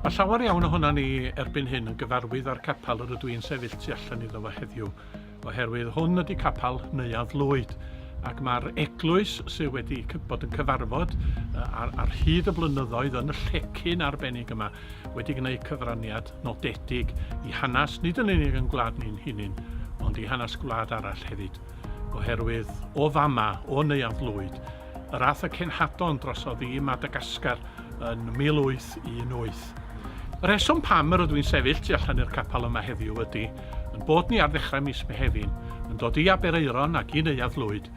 Mae llawer iawn ohonon ni erbyn hyn yn gyfarwydd â'r capel yr ydw i'n sefyll tu allan iddo fo heddiw, oherwydd hwn ydy capel Neuadd Lwyd, ac mae'r eglwys sydd wedi bod yn cyfarfod ar, ar hyd y blynyddoedd yn y llecyn arbennig yma wedi gwneud cyfraniad nodedig i hanes, nid yn unig yn gwlad ni'n hunin, ond i hanes gwlad arall hefyd. oherwydd o fama, o Neuadd Lwyd, yr ath y cenhadon drosodd i Madagascar yn 1818. Y rheswm pam yr ydw i'n sefyll tu allan i'r capel yma heddiw ydy yn bod ni ar ddechrau mis Mehefin yn dod i Aberaeron ac i Neuadd Lwyd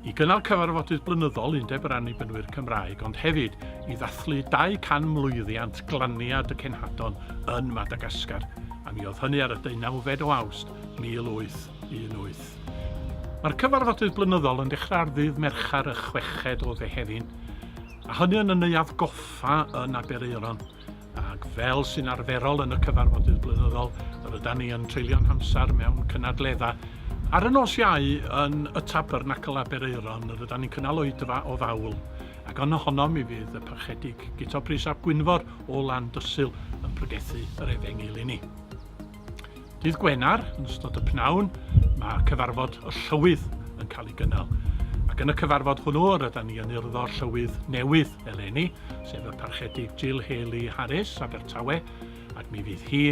i gynnal cyfarfodydd blynyddol Undeb yr Annibynwyr Cymraeg ond hefyd i ddathlu 200 mlwyddiant glaniad y cenhadon yn Madagascar a mi oedd hynny ar y deunawfed o Awst 1800. 18. Mae'r cyfarfodydd blynyddol yn dechrau ar ddydd Mercher y chweched o Fehefin, a hynny yn y Neuadd Goffa yn Aberaeron, ac fel sy'n arferol yn y cyfarfodydd blynyddol, yr ydan ni yn treulio'n hamser mewn cynadledda. Ar y nos Iau, yn y Tabernacl Aberaeron, yr ydan ni'n cynnal oedfa o fawl, ac yn ohono mi fydd y Parchedig Guto Prys ap Gwynfor o Landysul yn pregethu yr Efengyl i ni. Dydd Gwener, yn ystod y pnawn, mae cyfarfod y Llywydd yn cael ei gynnal. Ac yn y cyfarfod hwnnw, rydyn ni yn urddo Llywydd newydd eleni, sef y Parchedig Jill Haley Harris, Abertawe, ac mi fydd hi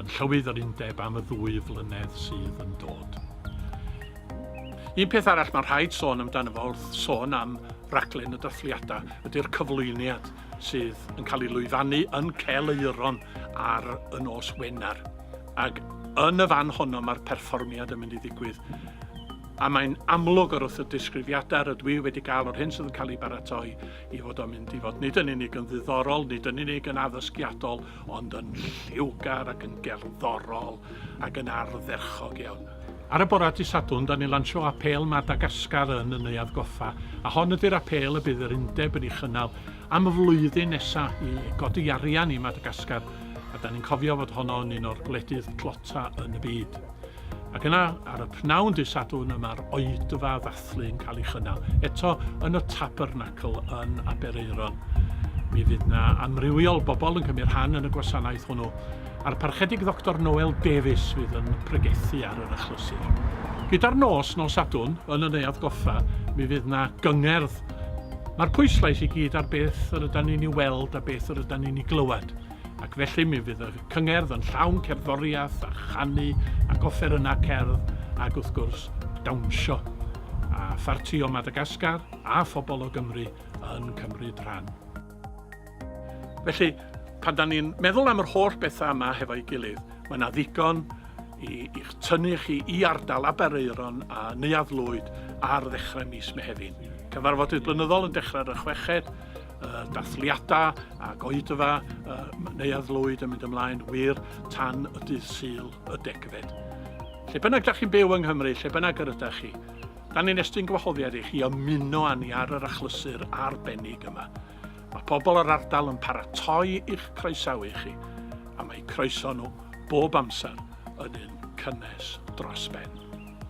yn Llywydd yr Undeb am y ddwy flynedd sydd yn dod. Un peth arall mae'n rhaid sôn amdano fo wrth sôn am raglen y dathliadau ydy'r cyflwyniad. sydd yn cael ei lwyfannu yn Cel Euron ar y nos Wener. Ac yn y fan honno mae'r perfformiad yn mynd i ddigwydd. A mae'n amlwg o'r wrth y disgrifiadau rydw i wedi cael o'r hyn sydd yn cael ei baratoi i fod o'n mynd i fod nid yn unig yn ddiddorol, nid yn unig yn addysgiadol, ond yn lliwgar ac yn gerddorol ac yn ardderchog iawn. Ar y bora dy Sadwrn da ni'n lansio apêl Madagascar yn y Neuadd Goffa a hon ydy'r apêl y bydd yr undeb yn ei chynnal am y flwyddyn nesa i godi arian i Madagascar a da ni'n cofio fod honno yn un o'r gwledydd tlota yn y byd. Ac yna, ar y pnawn dy Sadwrn y mae'r oedfa ddathlu yn cael ei chynnal, eto yn y Tabernacl yn Aberaeron. Mi fydd na amrywiol bobl yn cymryd rhan yn y gwasanaeth hwnnw, a'r parchedig Ddoctor Noel Davies fydd yn pregethu ar yr achlysur. Gyda'r nos, nos Sadwrn, yn y neuadd goffa, mi fydd na gyngerdd. Mae'r pwyslais i gyd ar beth yr ydan ni'n ei weld a beth yr ydan ni'n ei glywed. ac felly mi fydd y cyngerdd yn llawn cerddoriaeth a chanu ac offerynnau cerdd ac wrth gwrs dawnsio. A pharti o Madagascar a phobl o Gymru yn cymryd rhan. Felly, pan da ni'n meddwl am yr holl bethau yma hefo'i gilydd, mae yna ddigon i, i'ch tynnu chi i ardal Aberaeron a Neuadd Lwyd ar ddechrau mis Mehefin. Cyfarfodydd blynyddol yn dechrau ar y chweched uh, dathliadau a goedfa uh, Neuadd Lwyd yn mynd ymlaen wir tan y dydd syl y degfed. Lle bynnag da chi'n byw yng Nghymru, lle bynnag yr ydych chi, da ni'n estyn gwahoddiad i chi ymuno â ni ar yr achlysur arbennig yma. Mae pobl yr ardal yn paratoi i'ch croesawu chi, a mae croeso nhw bob amser yn un cynnes dros ben.